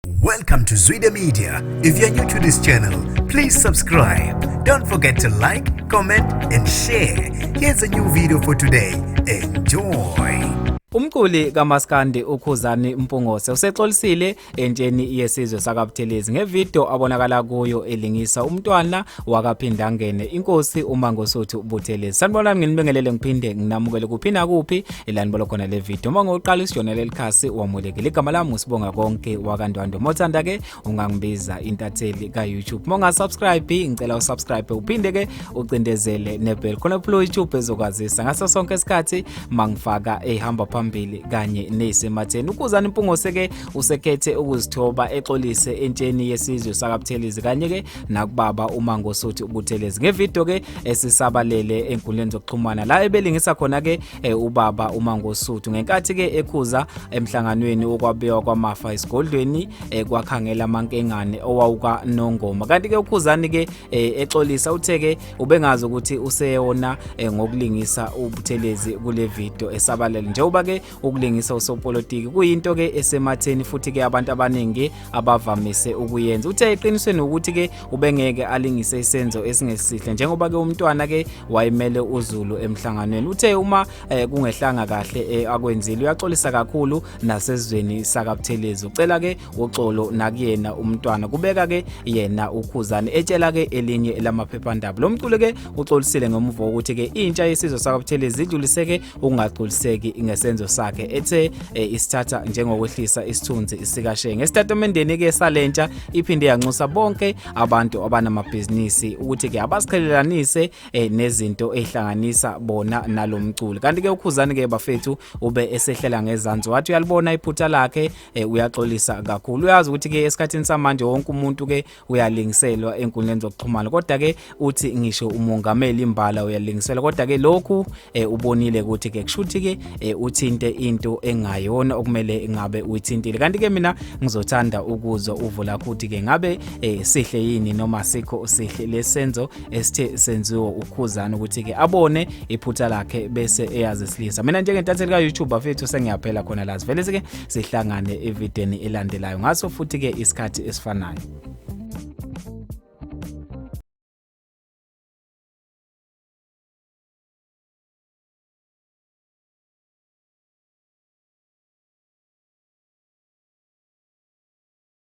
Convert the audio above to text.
Welcome to Zwide Media. If you're new to this channel, please subscribe. Don't forget to like, comment and share. Here's a new video for today. Enjoy. Umculi kaMaskandi uKhuzani Mpungose usexolisile entsheni yesizwe sakaButhelezi ngevideo abonakala kuyo elingisa umntwana wakaPhindangene inkosi uMangosuthu Buthelezi. Sanibonani nginibingelele ngiphinde nginamukele kuphi nakuphi ilani bolo khona le video uma ngoqala isijona lelikhasi wamulekile igama lami usibonga konke wakandwando uma uthanda ke ungangibiza intatheli ka-youtube uma ungasubscribe ngicela usubscribe uphinde ke ucindezele nebhel khona phula youtube ezokwazisa ngaso sonke isikhathi mangifaka ehamba phambili kanye neyisematheni ukuzana impungose ke usekhethe ukuzithoba exolise entsheni yesizwe sakabuthelizi kanye ke nakubaba uMangosuthu uButhelezi ngevideo ke esisabalele enkundleni zokuxhumana la ebelingisa khona ke eh, ubaba uMangosuthu ngenkathi ke ekhuza emhlanganweni wokwabiwa kwamafa esigodlweni eh, kwakhangela amankengane owawuka Nongoma kanti ke ukhuzani ke eh, exolisa uthe ke ubengazi ukuthi useyona ngokulingisa uButhelezi kule video esabalele njengoba ke ukulingisa usopolitiki kuyinto ke esematheni futhi ke abantu abaningi abavamise ukuyenza uthe eqinisweni ukuthi ke ubengeke alingise isenzo esingesihle njengoba ke umntwana ke wayimele uZulu emhlanganweni uthe uma eh, kungehlanga kahle eh, akwenzile uyaxolisa kakhulu nasezweni sakabuthelezi ucela ke uxolo nakuyena umntwana kubeka ke yena ukhuzane etshela ke elinye lamaphephandaba lo mculo ke uxolisile ngomvuko ukuthi ke intsha yesizwe sakabuthelezi idluliseke ukungagculiseki ngesenzo sakhe ethe eh, isithatha njengokwehlisa isithunzi sikashe ngesitatimendeni ke salentsha iphinde yanxusa bonke abantu abanamabhizinisi ukuthi ke abasiqhelelanise eh, nezinto ezihlanganisa bona nalomculi kanti ke ukhuzani ke bafethu ube esehlela ngezansi wathi uyalibona iphutha lakhe eh, uyaxolisa kakhulu uyazi ukuthi ke esikhathini samanje wonke umuntu ke uyalingiselwa enkundleni zokuxhumana kodwa ke uthi ngisho umongameli imbala uyalingiselwa kodwa ke lokhu e, ubonile ukuthi ke kushuthi ke e, uthinte into engayona okumele ngabe uyithintile kanti ke mina ngizothanda ukuzwa uvula ukuthi ke ngabe e, sihle yini noma sikho sihle lesenzo esithe senziwa ukhuzana ukuthi ke abone iphutha lakhe bese eyazisilisa mina njengentatheli ka YouTube bafethu sengiyaphela khona la sivele ke sihlangane evideni elandelayo ngaso futhi ke isikhathi esifanayo